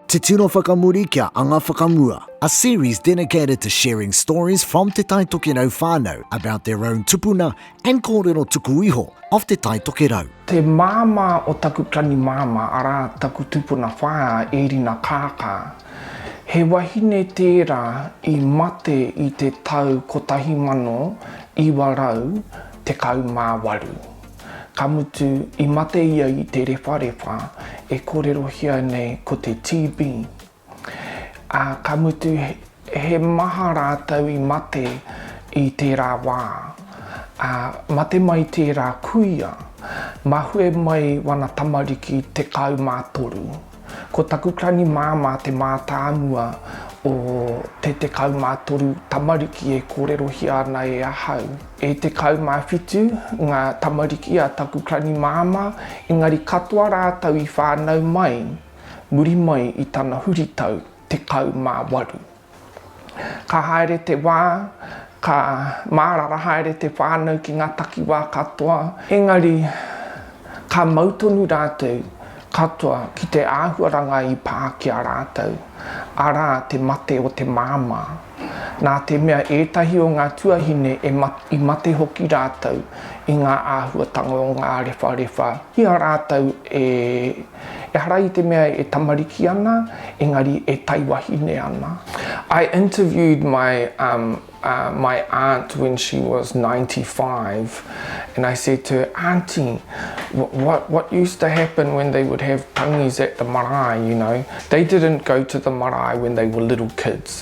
Te Tino Whakamuri kia Anga Whakamua A series dedicated to sharing stories from Te Tai Tokerau whānau about their own tupuna and kōrero tuku iho of Te Tai Tokerau. Te māmā o taku tani māmā, arā, taku tupuna whaea e Rina Kaaka. He wahine tērā i mate i te tau 1918. Ka mutu, i mate ia i te rewharewha e kōrerohia nei ko te TB. Ā, ka mutu, he maha rātou i mate i tērā wā. Ā, mate mai tērā kuia, mahue mai wana tamariki tekau mā toru. Ko taku tani māmā te mātāmua o te 13 tamariki e kōrerohia ana e ahau. E 17 ngā tamariki a taku tani māmā, engari katoa rātou i whānau mai muri mai i tana huritau 18. Ka haere te wā, ka mārara haere te whānau ki ngā takiwā katoa, engari ka mau tonu rātou katoa ki te āhuaranga i pā ki a rātou, arā, te mate o te māmā. Nā te mea ētahi o ngā tuahine i mate hoki rātou i ngā āhuatanga o ngā rewharewha i a rātou e Ehara i te mea e tamariki ana, engari e taiwahine ana. I interviewed my um my aunt when she was ninety five and I said to her, Aunty, what what used to happen when they would have tangis at the marae, you know, they didn't go to the marae when they were little kids.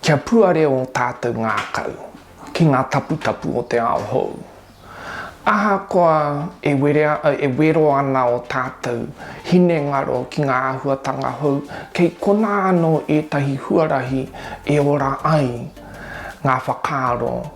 Kia puare ō tātou ngākau ki ngā taputapu o te ao hou. Ahakoa e werea, e wero ana ō tātou hinengaro ki ngā āhuatanga hou, kei konā anō ētahi huarahi e ora ai ngā whakaaro,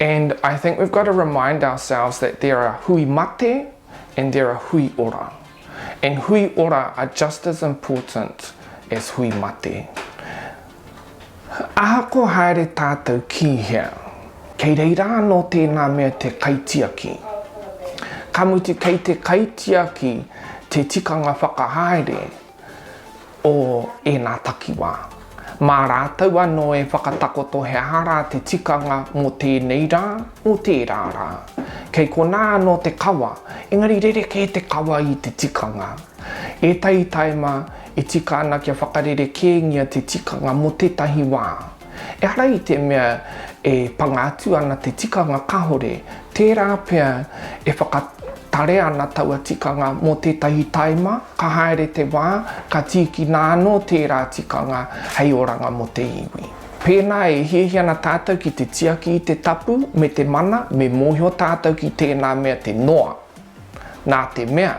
And I think we've got to remind ourselves that there are hui mate and there are hui ora. And hui ora are just as important as hui mate. Ahakoa haere tātou ki hea, kei reira anō tēnā mea te kaitiaki. Ka mutu kei te kaitiaki te tikanga whakahaere. o ēnā takiwā. Mā rātou anō e whakatakoto he aha rā te tikanga mō tēnei rā, mō tērā rā. Kei konā anō te kawa, engari rerekē te kawa i te tikanga. Ētahi taima e tika ana kia whakarerekēngia te tikanga mō tētahi wā. Ehara i te mea e panga atu ana te tikanga kahore, tērā pea e whakatarea ana taua tikanga mō tētahi taima, ka haere te wā, ka tīkina anō tērā tikanga hei oranga mō te iwi. Pēnā e hiahia ana tātou ki te tiaki i te tapu me te mana, me mōhio tātou ki tēnā mea te noa. Nā te mea,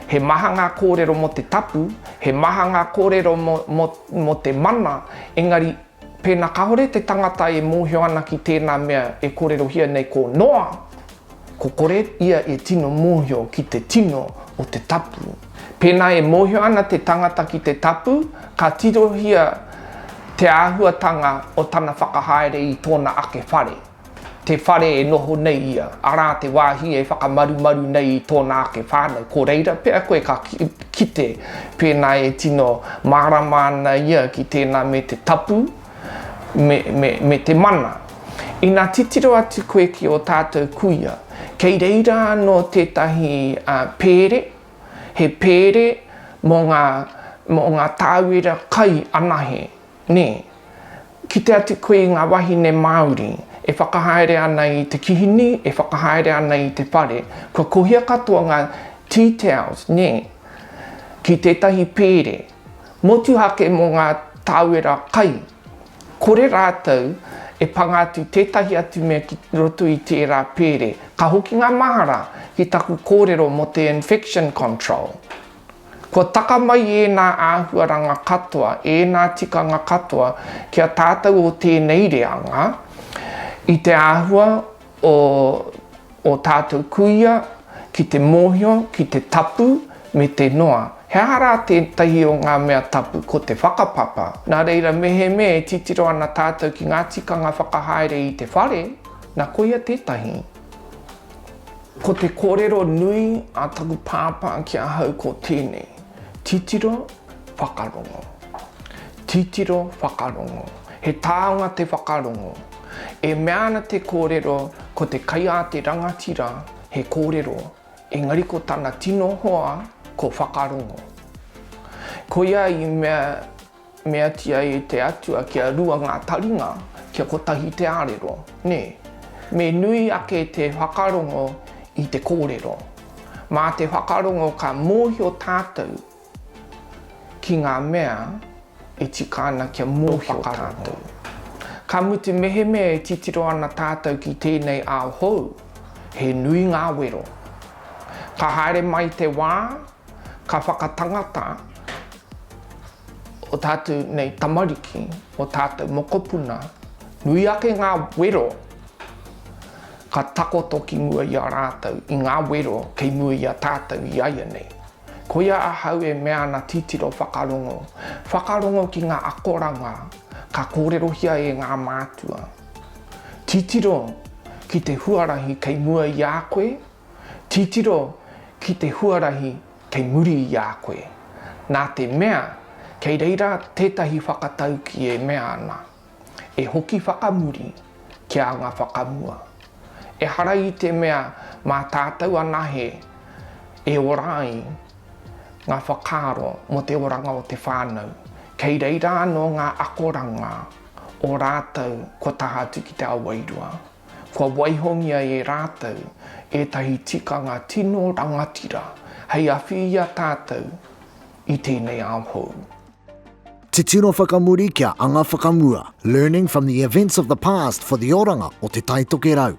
he maha ngā kōrero mō te tapu, he maha ngā kōrero mō, mō, mō te mana, engari, pēnā kāore te tangata e mōhio ana ki tēnā mea e kōrerohia nei ko Noa, ko kore ia e tino mōhio ki te tino o te tapu. Pēnā e mōhio ana te tangata ki te tapu, ka tirohia te āhuatanga o tana whakahaere i tōna ake whare. te whare e noho nei ia, arā te wāhi e whakamarumaru nei i tōna ake whānau, ko reira pea koe ka kite pēnā e tino mārama ana ia ki tēnā me te tapu, me, me, me te mana. Ina titiro atu koe ki ō tātou kuia, kei reira anō tētahi uh, pēre, he pēre mō ngā, mō ngā tāwera kai anahe, Nē. Kite atu koe i ngā wāhine Māori e whakahaere ana i te kihini, e whakahaere ana i te whare. Kua kohia katoa ngā tea towels, nē, ki tētahi pēre, motuhake mō ngā tāwera kai. Kore rātou e panga atu tētahi atu mea ki roto i tērā pēre. Ka hoki ngā mahara ki taku kōrero mō te infection control. Kua taka mai ēnā āhuaranga katoa, ēnā tikanga katoa ki a tātou o tēnei reanga, i te āhua o ō tātou kuia ki te mōhio, ki te tapu, me te noa. He aha rā tētahi o ngā mea tapu? Ko te whakapapa. Nā reira, mehemea e titiro ana tātou ki ngā tikanga whakahaere i te whare, nā, koia tētahi. Ko te kōrero nui a taku pāpā ki ahau ko tēnei, titiro, whakarongo. Titiro, whakarongo. He taonga te whakarongo. E mea ana te kōrero ko te kaiāte rangatira he kōrero, engari ko tana tino hoa ko whakarongo. Koia i mea Meatia e te Atua kia rua ngā taringa, kia kotahi te arero, nē. Me nui ake te whakarongo i te kōrero. Mā te whakarongo ka mōhio tātou ki ngā mea e tika ana kia mōhio tātou. Ka mutu mehemea e titiro ana tātou ki tēnei ao hou, he nui ngā wero. Ka haere mai te wā, Ka whakatangata o tātou nei tamariki, o tātou mokopuna, nui ake ngā wero ka takoto ki mua i a rātou, i ngā wero kei mua i a tātou i aianei. Koia ahau e mea ana titiro whakarongo, whakarongo ki ngā akoranga ka kōrerohia e ngā mātua. Titiro ki te huarahi kei mua i a koe, Titiro ki te huarahi kei muri i a koe, nā te mea kei reira tētahi whakatauki e mea ana, e hoki whakamuri ki a nga whakamua. Ehara i te mea mā tātou anahe e ora ai nga whakaaro mo te oranga o te whānau, kei reira anō ngā akoranga o rātou kua taha atu ki te ao wairua. Kua waihongia e rātou ētahi tikanga tino rangatira hei awhi i a tātou i tēnei ao hou. Titiro whakamuri kia anga whakamua, learning from the events of the past for the oranga o Te Taitokerau.